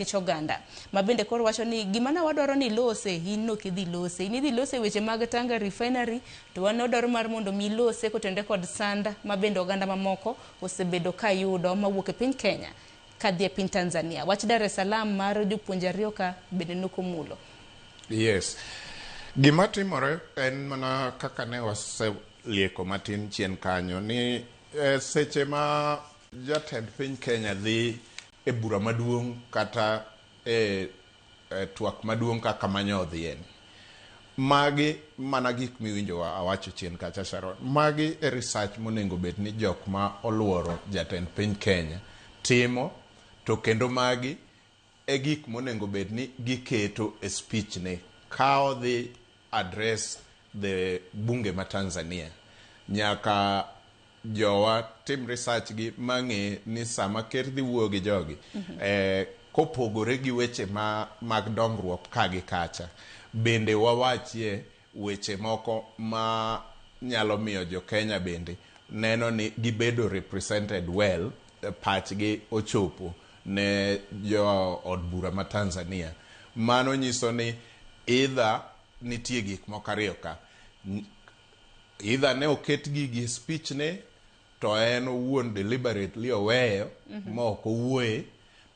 nikech oganda ma bende koro wacho ni gima na wadwaro ni lose in nok idhi lose in idhi lose weche mag Tanga refinery to wan wadwaro mar mondo mi lose kotende kod sand ma bende oganda mamoko osebedo ka yudo mawuok e piny Kenya kadhi e piny Tanzania wach Dar es Salaam mar jopuonje ariyo ka bende nokomulo Yes. Gima timore en mana kaka ne waselieko matin chien kanyo ni eh, seche ma jatend piny Kenya dhi e bura maduong' kata e twak maduong' kaka manya odhiyeni. Magi mana gik miwinjo awacho chien kacha Sharon. Magi e research monengo bed ni jok ma oluoro jatend piny Kenya timo to kendo magi e gik monengo bed ni giketo e speech ni ka odhi address the bunge ma Tanzania. Nyaka jowa tim research gi mang'e ni sama ker dhi wuoyo gi jogi mm -hmm. eh, kopogore gi weche ma, mag dongruok ka gi kacha bende wawachie weche moko ma nyalo miyo jo Kenya bende neno ni gibedo represented well eh, pachgi ochopo ne jo od bura ma Tanzania mano nyiso ni Either nitie gik moko ariyo ka. Either ne oket gigi e speech ne to en owuon deliberately oweyo ma ok owuoye.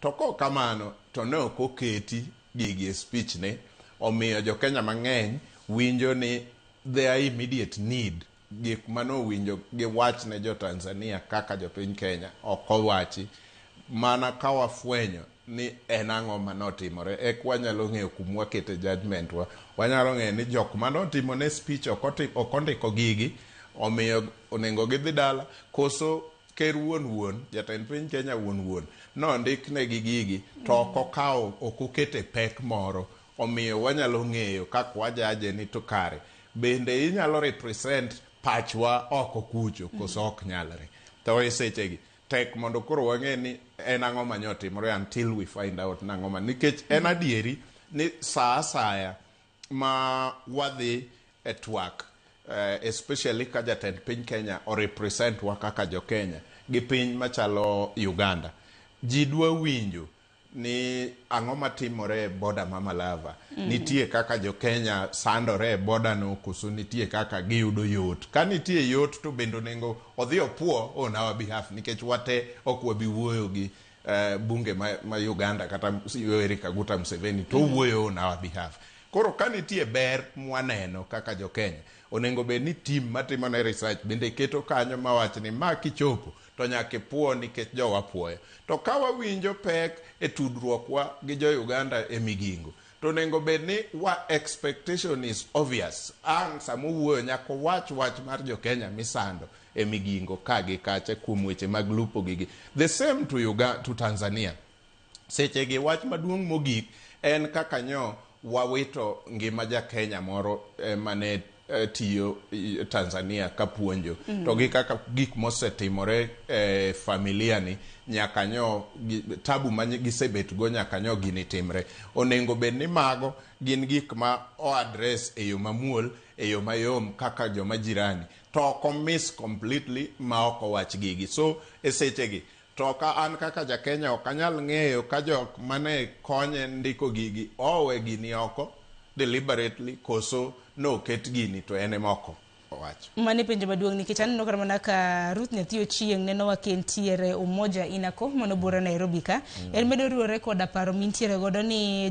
To kok kamano to ne ok oketi gigi e speech ne. Omiyo jo Kenya mang'eny winjo ni their immediate need. Gik mane owinjo gi wach ne jo Tanzania kaka jo piny Kenya ok owachi. Mana ka wafwenyo ni en ang'o mane otimore eka wanyalo ng'eyo kuma wakete judgement wa. Wanyalo ng'eyo ni jok mane otimo ne speech ok otim ok ondiko gigi omiyo onengo gidhi dala koso ker wuon wuon jatend piny Kenya wuon wuon nondiknegi gigi to ok okawo ok okete pek moro. Omiyo wanyalo ng'eyo kaka wajaje ni to kare bende inyalo represent pachwa oko kucho koso ok nyalre. To e sechegi tek mondo koro wang'e ni en ang'o ma nyo otimore until we find out ni ang'o ma nikech en adieri ni sa asaya ma wadhi e twak especially ka jatend piny Kenya o represent wa kaka jo Kenya gi piny machalo Uganda ji dwa winjo ni ang'o matimore e boda ma Malava? Mm -hmm. Nitie kaka jo Kenya sandore e boda no koso nitie kaka giyudo yot? Ka nitie yot to bende onego odhi opuo on our behalf nikech wate ok wabi wuoyo gi uh, bunge ma, ma Uganda kata Yoweri Kaguta Museveni to mm-hmm. wuoyo on our behalf. Koro ka nitie ber mwaneno kaka jo Kenya, onego bed ni tim matimone research bende keto kanyo mawach ni ma kichopo to nyaka ipwo nikech jowa pwoya. To ka wawinjo pek e tudruokwa gi jo Uganda e Migingo, to onego bed ni wa expectation is obvious. Ang' sama owuoyo nyaka owach wach mar jo Kenya misando e Migingo ka gi kacha kuom weche mag lupo gigi. The same to Uganda, to Tanzania. Sechegi wach maduong' mogik en kaka nyo wawito ngima ja Kenya moro eh, mane eh, tiyo eh, Tanzania ka puonjo mm. to gi kaka gik mosetimore eh, familia ni nyaka nyo gi, tabu ma gisebet go nyaka nyo gini timre onengo bed ni mago gin gik ma o address e yo mamuol e yo mayom kaka joma jirani to oko miss completely ma oko wach gigi so e sechegi To ka an kaka ja Kenya ok anyal ng'eyo ka jok mane konye ndiko gigi owe gini oko deliberately koso noket gini to en ema oko, owacho. Mano e penjo maduong' nikech aneno kata mana ka Ruth Nyathi Ochieng' neno wa ka entiere Umoja Inako mano bura Nairobi ka. En medo riwore koda paro mintiere godo ni